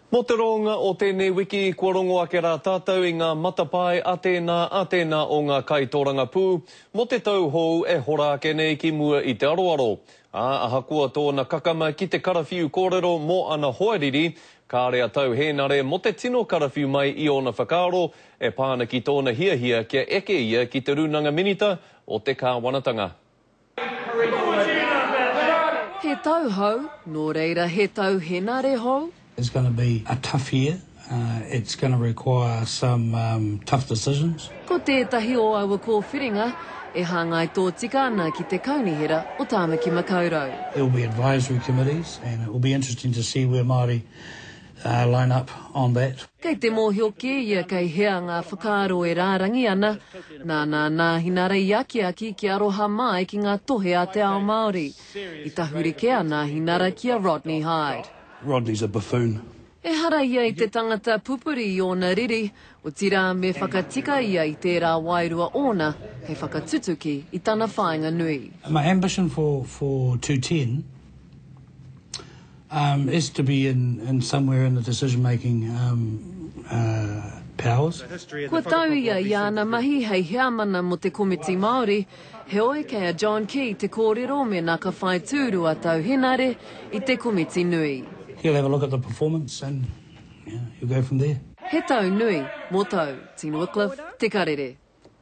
Mō te roanga o tēnei wiki, kua rongo ake rā tātou i ngā matapae a tēnā, a tēnā o ngā kaitōrangapū mō te tau hou e hora ake nei ki mua i te aroaro. Ā, ahakoa tōna kakama ki te karawhiu kōrero mō ana hoariri, kāre a Tau Hēnare mō te tino karawhiu mai i ōna whakaaro e pā ana ki tōna hiahia kia eke ia ki te Rūnanga Minita o te Kāwanatanga. He tau hou, nō reira he tau henare hou? It's gonna be a tough year, it's gonna require some tough decisions. Ko tētahi o aua kōwhiringa e hāngai tōtika ana ki te Kaunihera o Tāmaki Makaurau. There will be advisory committees and it will be interesting to see where Māori line up on that. Kei te mōhio kē ia kei hea ngā whakaaro e rārangi ana, nāna nā Hinarei i akiaki kia aroha māi ki ngā tohe a te ao Māori. I tahuri kē a nā Hinara ki a Rodney Hide. Rodney's a buffoon. Ehara ia i te tangata pupuri i ōna riri, otirā me whakatika ia i tērā wairua ōna hei whakatutuki i tana whāinga nui. My ambition for for two ten. Is to be in in somewhere in the decision making powers. Kua tau ia i āna mahi hei heamana mō te komiti Māori, heoi kei a John Key te kōrero mēnā ka whai tūru a Tau Henare i te komiti nui. He'll have a look at the performance and he'll go from there. He tau nui, mō tau, Tino Wycliffe, Te Karere.